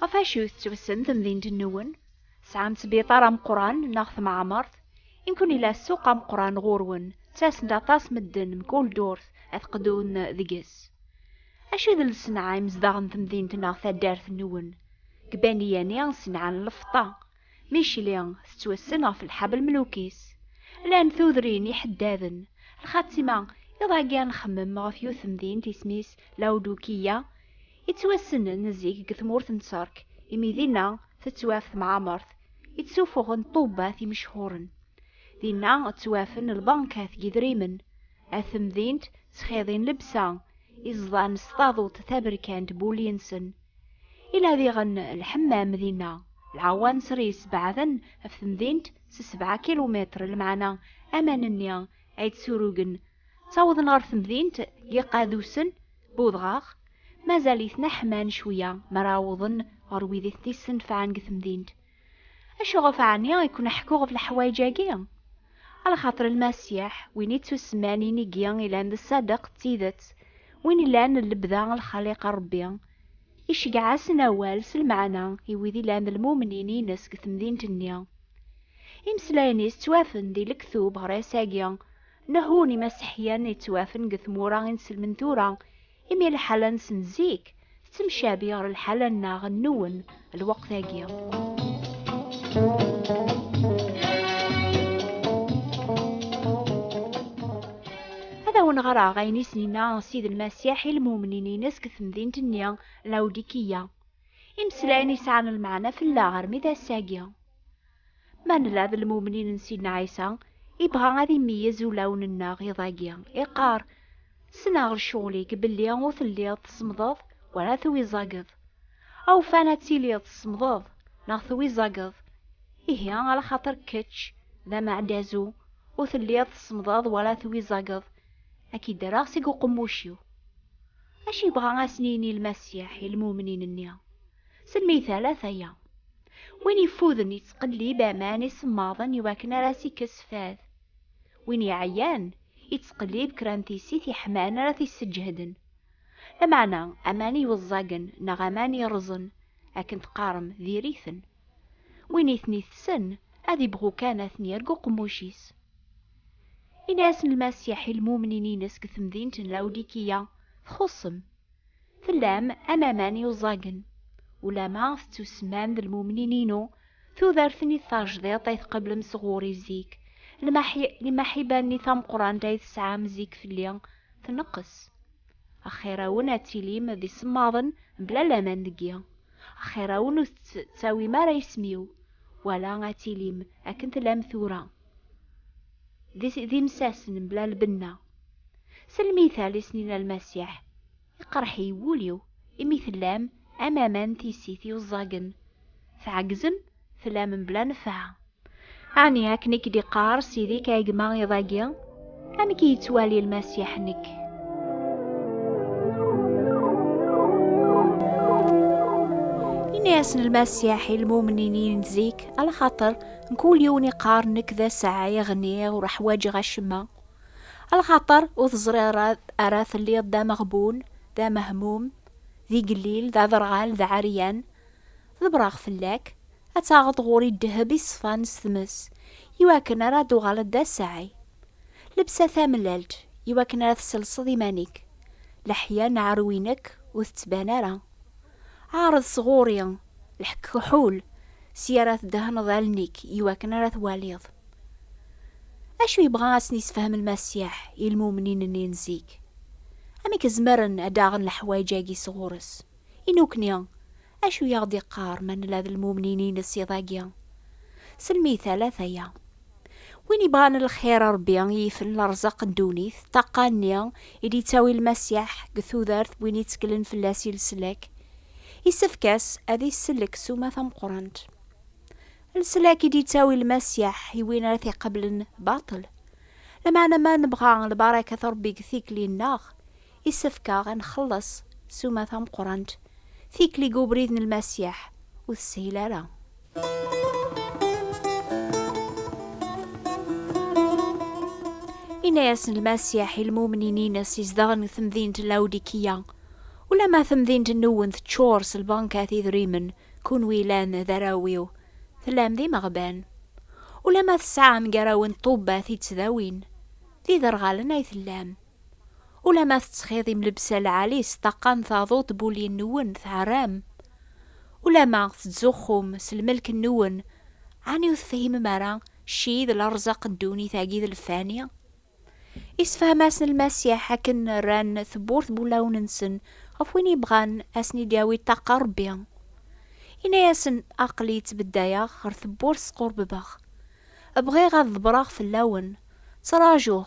Ɣef acu tettwsen temdint-nwen? Sɛan sbiṭar ameqqran neɣ tmeɛmert? Imkun ila ssuq ameqqran ɣur-wen, ttasen-d aṭas medden mkul ddurt ad qdun deg-s. Acu d lsenɛa imezdaɣ n temdint neɣ taddart-nwen? Deg Bani Yani, ssenɛa n lfeṭṭa. Micli tettwassen ɣef lḥabel mlukis. Llan tudrin iḥeddaden. Lxatima, iḍ agi ad nxemmem ɣef yiwet temdint isem-is Lawdukiya, yettwassnen zik deg tmurt n Tterk, imi dinna tettwaf temɛamert i ttsufuɣen ṭṭubbat imechhuren. Dinna ttwafen lbankat n yidrimen, at temdint ttxiḍin lebsa, iẓḍan s taḍuṭ taberkant bulli-nsen, Ila diɣen lḥemmam dinna. Lɛawanser yessebɛaden ɣef temdint s sebɛa kilumitr, lmeɛna aman-nni ay d-surugen ttawḍen ɣer temdint n Yiqadusen, Budɣaɣ, mazal-iten ḥman cwiya mi ara awḍen ɣer wid i ten-yessenfɛen deg temdint. Acuɣef ɛni i ken-ḥkuɣ ɣef leḥwayeǧ-agi? Ala xaṭer Lmasiḥ, win i ttusemman inigi ilan d Ṣṣadeq d Tidet, win ilan d lebda n Lxaliq n Ṛebbi, iceggeɛ-asen awal s lmeɛna i wid ilan d lmumnin-ines deg temdint-nni. Imeslayen-is ttwafen di lektub ɣer ass-agi, nehu n Imaseḥyen yettwafen deg tmura i nselmen tura, Imi lḥala-nsen zik tettemcabi ɣer lḥala-nneɣ nwen lweqt-agi. Ad awen-ɣreɣ ayen i sen-inna Ssid Lmasiḥ i lmumnin-ines deg temdint-nni Lawdikiya. Imeslayen yesɛan lmeɛna fell-aɣ armi d ass-agi. Ma nella d lmumnin n Sidna Ɛisa, ibɣa ad imeyyez ulawen-nneɣ iḍ-agi, iqqar, Ssneɣ lecɣel-ik belli ur telliḍ tsemmḍeḍ wala tewizzageḍ. Awfan ad tiliḍ tsemmḍeḍ neɣ tewizzageḍ, ihi ala xaṭer kečč d ameɛdazu ur telliḍ tsemmḍeḍ wala tewizzageḍ, ad k-id-rreɣ seg uqemmuc-iw. Acu yebɣa ad asen-yini Lmasiḥ i lmumnin-nni? Semmey talat aya. Win yeffuden yettqellib aman isemmaḍen i wakken ara as-ikkes fad. Win iɛyan yettqellib kra n tissit yeḥman ara t-isseǧheden. Lameɛna aman iweẓẓagen neɣ aman irẓen, akken teqqarem, diri-ten. Win i ten-itessen ad ibɣu kan ad ten-yerg uqemmuc-is. Ini-asen Lmasiḥ i lmumnin-ines deg temdint n Lawdikiya, Txuṣṣem. Tellam am aman yuẓagen. Ulama tettusmam d lmumnin-inu, tudert-nni tajdiṭ ay tqeblem sɣur-i zik, lmaḥiba-nni tameqrant ay tesɛam zik fell-i, tneqqes. Axir-awen ad tilim d isemmaḍen mebla laman deg-i. Axir-awen ur tettawim ara isem-iw, wala ad tilim akken tellam tura. d imsasen mebla lbenna. S lmital i s-nina Lmasiḥ, Iqerreḥ-iyi wul-iw, imi tellam am aman n tissit yuẓẓagen, tɛeggzem, tellam mebla nnfeɛ. Ɛni akken i k-d-iqqar Sidi-k a gma iḍ-agi? amek i yettwali lmasiḥ-nnek? Ini-asen lmasiḥ i lmumninin n zik, ala xaṭer mkul yiwen iqqar nekk d asaɛi ɣniɣ ur ḥwaǧeɣ acemma. Ala xaṭer ur teẓriḍ ara telliḍ d ameɣbun, d amehmum, d igellil, d aderɣal, d ɛeryan. Ḍebreɣ fell-ak, ad taɣeḍ ɣur-i ddheb iṣfan s tmes, i wakken ara d-tuɣaleḍ d asaɛi. Lebsa tamellalt, i wakken ara tesselseḍ iman-ik. Leḥya n ɛerwi-nek ur tettban ara. Ɛreḍ s ɣur-i, leḥkekḥul, si ara tdehneḍ allen-ik i wakken ara twaliḍ. Acu yebɣa ad sen-yessefhem Lmasiḥ i lmumnin-nni n zik? Amek zemren ad d-aɣen leḥwayeǧ-agi s ɣur-s? I nukni, Acu i aɣ-d-iqqar ma nella d lmumnin-ines iḍ-agi? S lmital a t-aya. Win ibɣan lxir a Rebbi i yifen lerzaq n ddunit, ṭṭaqqa-nni i d-ittawi Lmasiḥ deg tudert win itteklen fell-as i leslak, isefk-as ad isellek suma tameqqrant. Leslak i d-ittawi Lmasiḥ i win ara t-iqablen baṭel. Lameɛna ma nebɣa lbarakat n Rebbi deg tikli-nneɣ, Isefk-aɣ a nxelles suma tameqqrant, tikli deg ubrid n Lmasiḥ ur teshil ara. Yenna-yasen Lmasiḥ i lmumnin-ines izedɣen deg temdint n Lawdikiya, Ulamma temdint-nwen teččur s lbankat idrimen, kunwi yellan d arraw-iw, tellam d imeɣban. Ulamma tesɛam gar-awen ṭṭubbat ittdawin, d iderɣalen ay tellam. Ulamma tettxiḍim lebsa lɛali s ṭṭaqa n taduṭ n ul-nwen tɛerram. Ulamma tettzuxxum s lmelk-nwen, ɛni ur tefhimem ara cci d lerẓaq n ddunit-agi d lfani? Isefhem-asen Lmasiḥ akken rran tewwurt n wulawen-nsen ɣef win yebɣan ad asen-id-yawi ṭṭaqa Rebbi. Yenna-yasen, Aql-i ttbeddayeɣ ɣer tewwurt squrbebeɣ. Bɣiɣ ad ḍebreɣ fell-awen. Ttrajuɣ,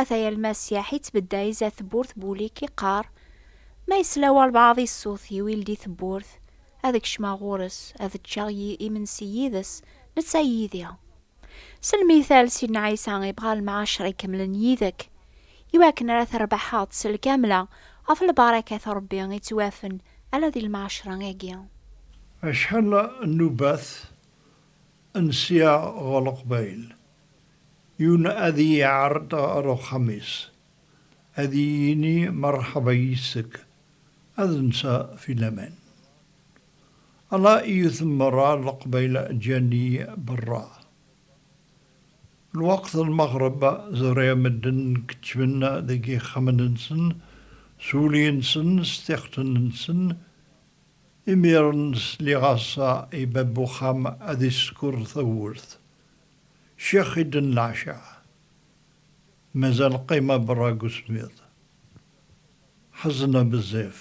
Ata yal ma syaḥ ittbedda izat tewwurt Boulik iqqar, Ma yesla walbaɛḍ i ṣṣut iw ildi tewwurt, ad kecmeɣ ɣur-s, ad ččeɣ y imensi yid-s, netta yid-i. S lmithal, Sidna Ɛisa ibɣa lemɛacer ikemlen yid-k, i wakken ara t-rbaḥeḍ s lkamla, ɣef lbarakat n Rebbi i ttwafen ala di lemɛacer-agi. Acḥal n nnubat n sya ɣer Leqbayel Yun ad iyi-iɛreḍ ɣer uxxam-is, ad iyi-yini merḥba yis-k, ad nsa fi laman. Ala i yuten merra leqbayel ǧǧan-iyi berra. Lweqt n lmeɣreb ẓriɣ medden keččmen deg yixxamen-nsen s wulli-nsen s tixetin-nsen, imiren sliɣ-as i bab uxxam ad iskur tawwurt. Ccix i ddn leɛcaɛ. Mazal qqima berra deg usemmiḍ. Ḥezna bezzaf.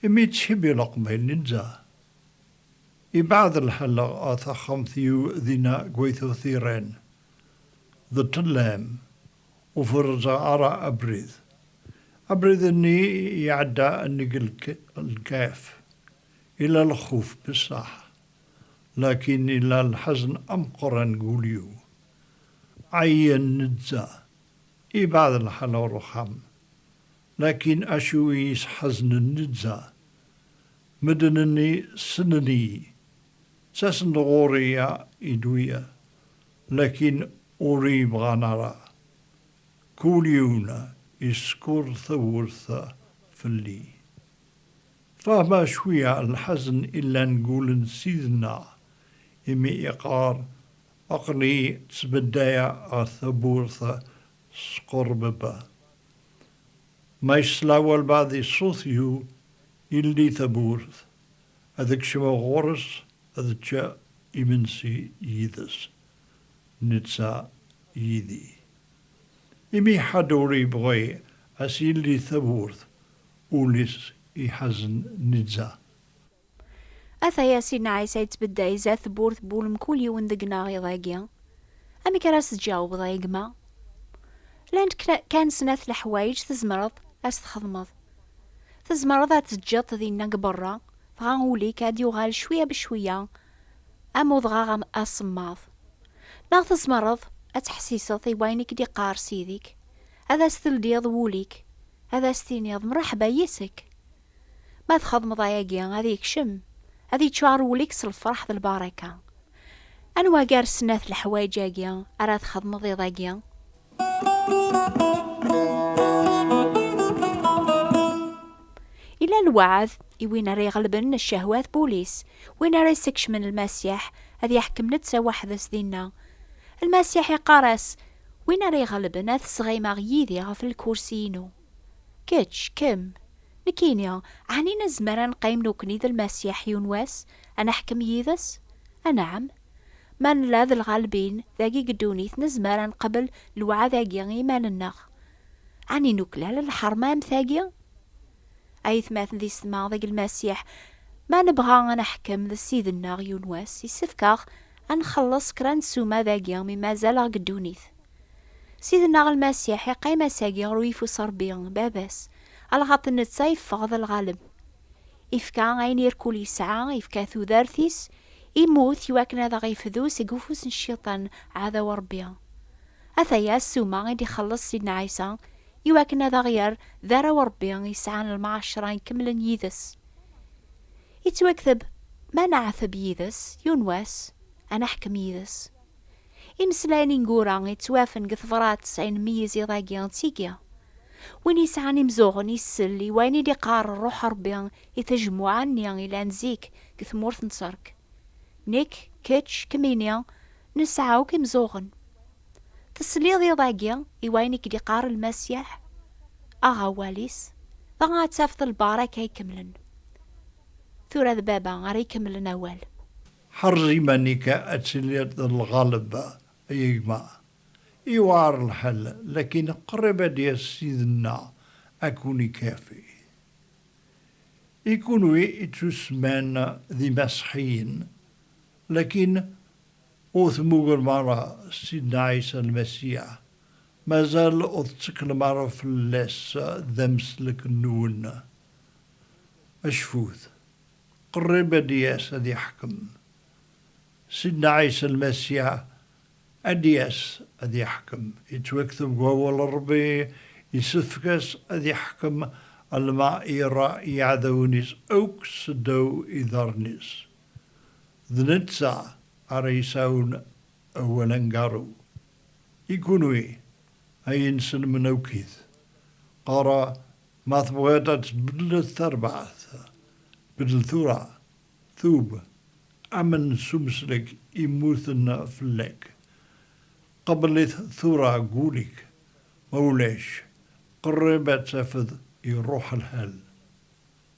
Imi yettcibbi leqbayel n Inza. Yebɛed lḥal ɣer taxxamt yiw dinna deg Waytut Iran. D ṭṭellam. Ur ferrzeɣ ara abrid. Abrid-nni iɛedda nnig lkaf. Yella lxuf, bessaḥ. lakin ila lḥezn ameqqran deg wul-iw. Ɛyan nezzha, ibɛed lḥal ɣer uxxam. Lakin acu i yi-sḥeznen nezzha? Medden-nni ssnen-iyi, ttasen-d ɣur-i a idwiya, lakin ur iyi-bɣan ara. Kul yiwen yeskuṛ tawwurt fell-i. Fehmeɣ cwiya lḥazen i llan deg wul-n Ssid-nneɣ, imi iqqar, Aql-iyi ttbeddayeɣ ɣef tawwurt s qerbeb. Ma yesla walbeɛd i ṣṣut-iw, yeldi tawwurt, ad kecmeɣ ɣur-s ad ččeɣ imensi yid-s, netta yid-i. Imi ḥedd ur yebɣi a s-yeldi tawwurt, Ul-is iḥazen neǧǧa. Ataya Sidna Ɛisa yettbedday zdat tewwurt n wul mkul yiwen deg-neɣ iḍ-agi. Amek ara s-tǧawbeḍ a gma? Llant kan snat leḥwayeǧ tzemreḍ a s-txedmeḍ. Tzemreḍ ad t-teǧǧeḍ dinna deg berra, dɣa ul-ik ad yuɣal cwiya becwiya am udɣaɣ asemmaḍ. Neɣ tzemreḍ ad teḥsiseḍ i wayen i k-d-iqqar Ssid-ik, Ad as-teldiḍ wul-ik, ad as-tiniḍ mṛeḥba yis-k. Ma txedmeḍ ayagi, ad yekcem, ad yeččuṛ wul-ik s lfeṛḥ d lbaṛaka. Anwa gar snat leḥwayeǧ-agi ara txedmeḍ iḍ-agi? Yella lweɛd i win ara iɣelben ccehwat n wul-is, win ara yessekcmen Lmasiḥ ad iḥkem netta weḥd-s dinna. Lmasiḥ iqqar-as, Win ara iɣelben ad t-sɣimeɣ yid-i ɣef lkursi-inu. Kečč, kemm, nekkini, ɛni nezmer ad neqqim nekkni d Lmasiḥ yiwen wass, ad neḥkem yid-s? Anɛam! Ma nella d lɣalbin dagi deg ddunit nezmer ad neqbel lewɛad-agi i yiman-nneɣ. Ɛni nuklal lḥerma am tagi? Aytmaten d yessetma, deg Lmasiḥ, ma nebɣa ad neḥkem d Ssid-nneɣ yiwen wass, yessefk-aɣ ad nxelleṣ kra n ssuma dagi mi mazal aɣ deg ddunit. Ssid-nneɣ Lmasiḥ iqqim ass-agi ɣer uyeffus n Rebbi, Baba-s, alxaṭer netta yeffeɣ d lɣaleb. Ifka ayen irkul yesɛa, ifka tudert-is, immut i wakken ad aɣ-ifdu seg ufus n Cciṭan, ɛdaw n Rebbi. Ataya ssuma i d-ixelleṣ Ssid-nneɣ Ɛisa, i wakken ad aɣ-yerr d arraw Ṛebbi yesɛan lmɛaceṛa ikemlen yid-s. Ittwakteb, Ma neɛteb yid-s, yiwen wass, ad neḥkem yid-s. Imeslayen ineggura yettwafen deg tebṛat ay nmeyyez iḍ-agi d tigi. Win yesɛan imeẓẓuɣen isell i wayen i d-iqqar Ṛṛuḥ Ṛebbi i tajmuɛa-nni yellan zik deg tmurt n Ţerk. Nekk, kečč, kemmini, nesɛa akk imeẓẓuɣen. Tesliḍ iḍ-agi i wayen i k-d-iqqar Lmasiḥ? Aɣ awal-is, dɣa ad tafeḍ lbaṛaka ikemlen. Tura d Baba ara ikemlen awal. Ḥerz iman-ik ad tiliḍ d lɣaleb, ay gma. Iwɛer lḥal, lakin qrib ad d-yas Sidna ad ken-ikafi. I kunwi i tusman d imaṣeḥiyen, lakin. Ur temmugrem ara Sidna Ɛisa Lmasiḥ, mazal ur tetteklem ara fell-as d ameslek-nwen. Acfut! Qrib ad d-yas ad iḥkem. Sidna Ɛisa Lmasiḥ ad d-yas ad iḥkem. Yettwakteb deg Wawal n Ṛebbi, Yessefk-as ad iḥkem alma ira iɛdawen-is akk seddaw iḍarren-is. D netta ara yesɛun awal aneggaru. I kunwi ay ineslemen awkit, qqareɣ ma tebɣiḍ ad tbeddleḍ tarbaɛt, beddel tura, tub, amen s umeslek immuten fell-ak. Qebbel-it tura deg wul-ik, ma ulac, qerrib ad tafeḍ iruḥ lḥal.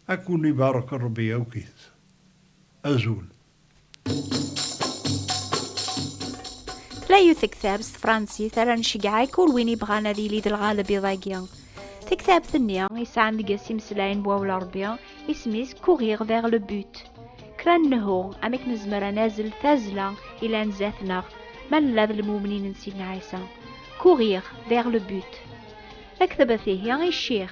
Ad ken ibarek Rebbi akk it. Azul. Layu tektab s tefransit ara ncegɛek ur win ibɣan ad yili d lɣaleb iḍ-agi. Tektabt-nni isɛan deg-s imeslayen n wawal Rebbi, isem-is Courir vers le but. Kra n nehu, amek nezmer ad nazzel tazzla ilan zdat-neɣ ma nella d lmumnin n Sidna Ɛisa? Courir vers le but. Ktebt ihi i ccix.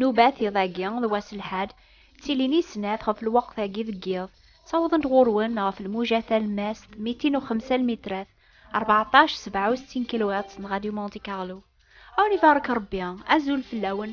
Nubat iḍ-agi d wass lḥad, ttilin i snat ɣef lweqt-agi deg yiḍ, ttawḍent ɣur-wen ɣef lmuja talemmast mitin u xemsa lmitrat, rbeɛṭac sebɛa u settin kilwiṭs n Radio Monte Carlo. A wen ibarek Rebbi, azul fell-awen.